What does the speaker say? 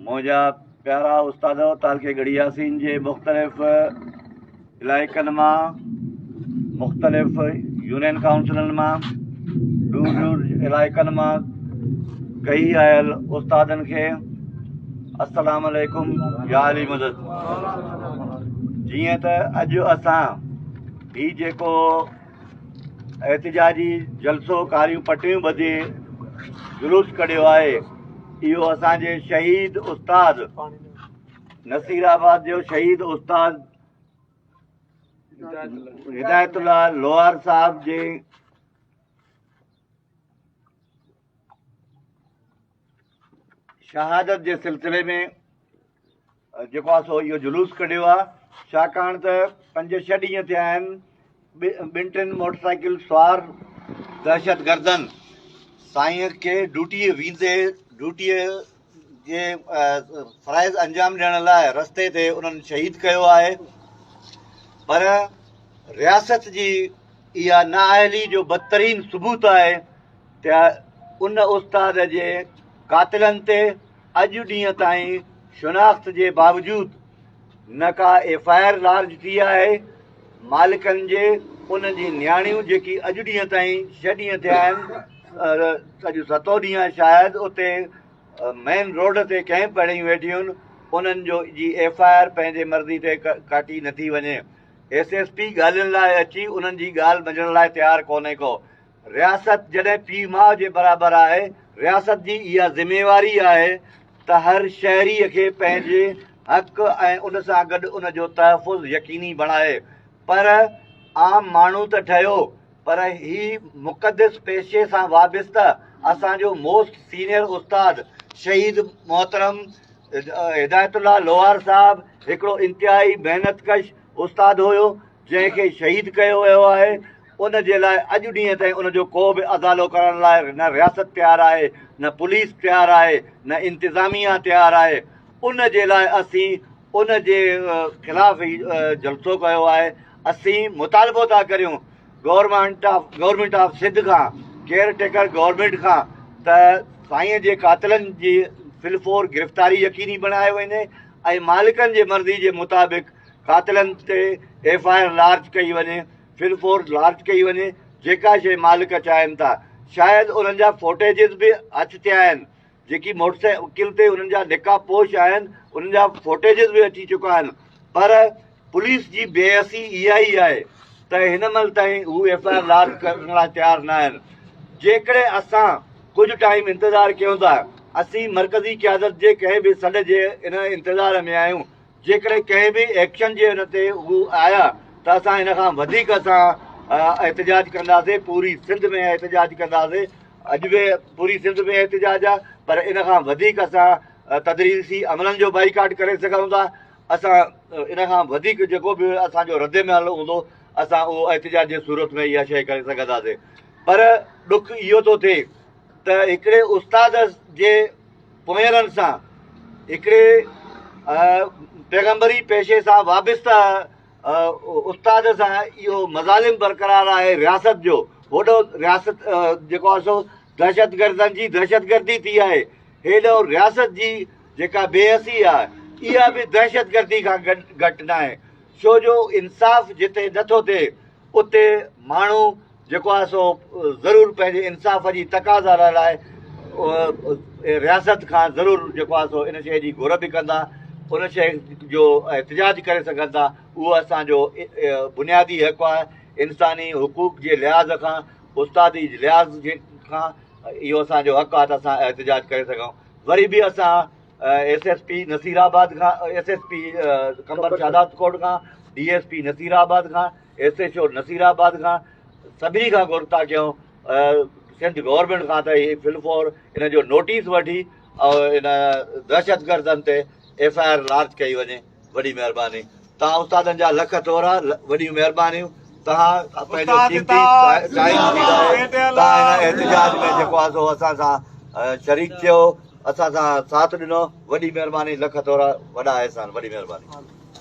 منهنجا پيارا استاد تالڪي گڙهي ياسين جي مختلف علائقن مان مختلف يونين ڪائونسلن مان دور دور علائقن مان ڪئي آيل استادن کي السلام علیکم يا علي مدد جيئن ته اڄ اسان هي جيڪو احتجاجي جلسو ڪاريون پٽيون ٻڌي جلوس ڪڍيو آهي اهو اسان جي شهيد استاد نصير آباد جو شهيد استاد هدايت الله لوهار صاحب جي شهادت جي سلسلي ۾ جيڪو آ سو اهو جلوس ڪڍيو آ ڇاڪاڻ ته پنج ڇهه ڏينهن ٿيا آهن ٻن ٽن موٽر سائيڪل سوار دهشتگردن سائين کي ڊوٽي ويندي ڊوٽي جي فرائض انجام ڏيڻ لاء رستي تي انهن شهيد ڪيو آهي پر رياست جي اها نااهلي جو بدترين ثبوت آهي ته ان استاد جي قاتلن تي اڄ ڏينهن تائين شناخت جي باوجود نه ڪا ايف آء آر لارج ٿي آهي، مالڪن جي انهن جي نياڻيون جيڪي اڄ ڏينهن تائين ڇهه ڏينهن ٿيا آهن اڄ ستون ڏينهن آهي شايد اتي مين روڊ تي ڪئمپ هڻي ويٺيون انهن جو جي ايف آء آر پنهنجي مرضي تي ڪاٽي نٿي وڃي ايس ايس پي ڳالهين لاء اچي انهن جي ڳالهه ٻڌڻ لاء تيار ڪونهي ڪو رياست جڏهن پيء ماء جي برابر آهي، رياست جي اها ذميواري آهي ته هر شهري کي پنهنجي حق ۽ ان سان گڏ ان جو تحفظ يقيني بڻائي پر عام ماڻهو ته ٺهيو پر هي مقدس پيشي سان وابسته اسان جو موسٽ سينيئر استاد شهيد محترم هدايت الله لوهار صاحب هڪڙو انتهائي محنت ڪش استاد هيو جنهن کي شهيد ڪيو ويو آهي ان جي لاء اڄ ڏينهن تائين ان جو ڪو به ازالو ڪرڻ لاء نه رياست تيار آهي نه پوليس تيار آهي نه انتظاميا تيار آهي ان جي لاء اسين ان جي خلاف هي جلسو ڪيو آهي اسين مطالبو ٿا ڪريون government of government of Sindh کان ڪيئر ٽيڪر گورنمنٽ کان ته سائين جي قاتلن جي فلفور گرفتاري يقيني بڻايو وڃي ۽ مالڪن جي مرضي جي مطابق قاتلن تي ايف آء آر لارج ڪئي وڃي، فل فورس لارج ڪئي وڃي، جيڪا شيء مالڪ چاهين ٿا. شايد انهن جا فوٽيجز به اچ ٿيا آهن، جيڪي موٽرسائيڪل تي انهن جا نقاب پوش آهن، انهن جا فوٽيجز به اچي چڪا آهن، پر پوليس جي بي حسي اها ئي آهي ته هن مهل تائين هو ايف آء آر لارج ڪرڻ لاء تيار نه آهن. جيڪڏهن اسان ڪجهه ٽائيم انتظار ڪيون ٿا، اسين مرڪزي قيادت جي ڪنهن به سڏ جي ان انتظار ۾ آهيون جيڪڏهن ڪنهن به ايڪشن جي ان تي هو آيا ته اسان ان کان وڌيڪ اسان احتجاج ڪنداسين پوري سنڌ ۾ احتجاج ڪنداسين اڄ به پوري سنڌ ۾ احتجاج آ پر ان کان وڌيڪ اسان تدريسي عملن جو بائيڪاٽ ڪري سگهون ٿا اسان ان کان وڌيڪ جيڪو به اسان جو رد عمل هوندو اسان اهو احتجاج جي صورت ۾ اها شيء ڪري سگهنداسين پر ڏک اهو ٿو ٿئي ته هڪڙي استاد جي پونئيرن سان هڪڙي پيغمبري پيشي سان وابسته استاد سان اهو مظالم برقرار آهي رياست جو هوڏو رياست جيڪو آهي سو دهشتگردن جي دهشتگردي ٿي آهي هيڏو رياست جي جيڪا بي حسي آهي اها به دهشتگردي کان گهٽ ناهي ڇو جو انصاف جتي نٿو ٿئي اتي ماڻهو جيڪو آهي سو ضرور پنهنجي انصاف جي تقاضا لاء لاء رياست کان ضرور جيڪو آهي سو ان شيء جي گهر به ڪندا ان شيء جو احتجاج ڪري سگهن ٿا اهو اسانجو بنيادي حق آهي انساني حقوق جي لحاظ کان استادي لحاظ جي کان اهو اسانجو حق آهي ته اسان احتجاج ڪري سگهون وري به اسان S S P Nasirabad کان S S P Qambar Shahdadkot کان D S P Nasirabad کان S H O Nasirabad کان سڀني کان گهرتا ڪيون سنڌ گورنمينٽ کان ته هي فل فور ان جو نوٽيس وٺي ان دهشت گردن تي ايف آء آر لارج ڪئي وڃي وڏي مهرباني توهان استادن جا لک ٿورا وڏيون مهربانيون توهان پنهنجو قيمتي ٽائيم توهان هن احتجاج ۾ جيڪو آسو اسان سان شريڪ ٿيو اسان سان ساٿ ڏنو وڏي مهرباني لک ٿورا وڏا احسان وڏي مهرباني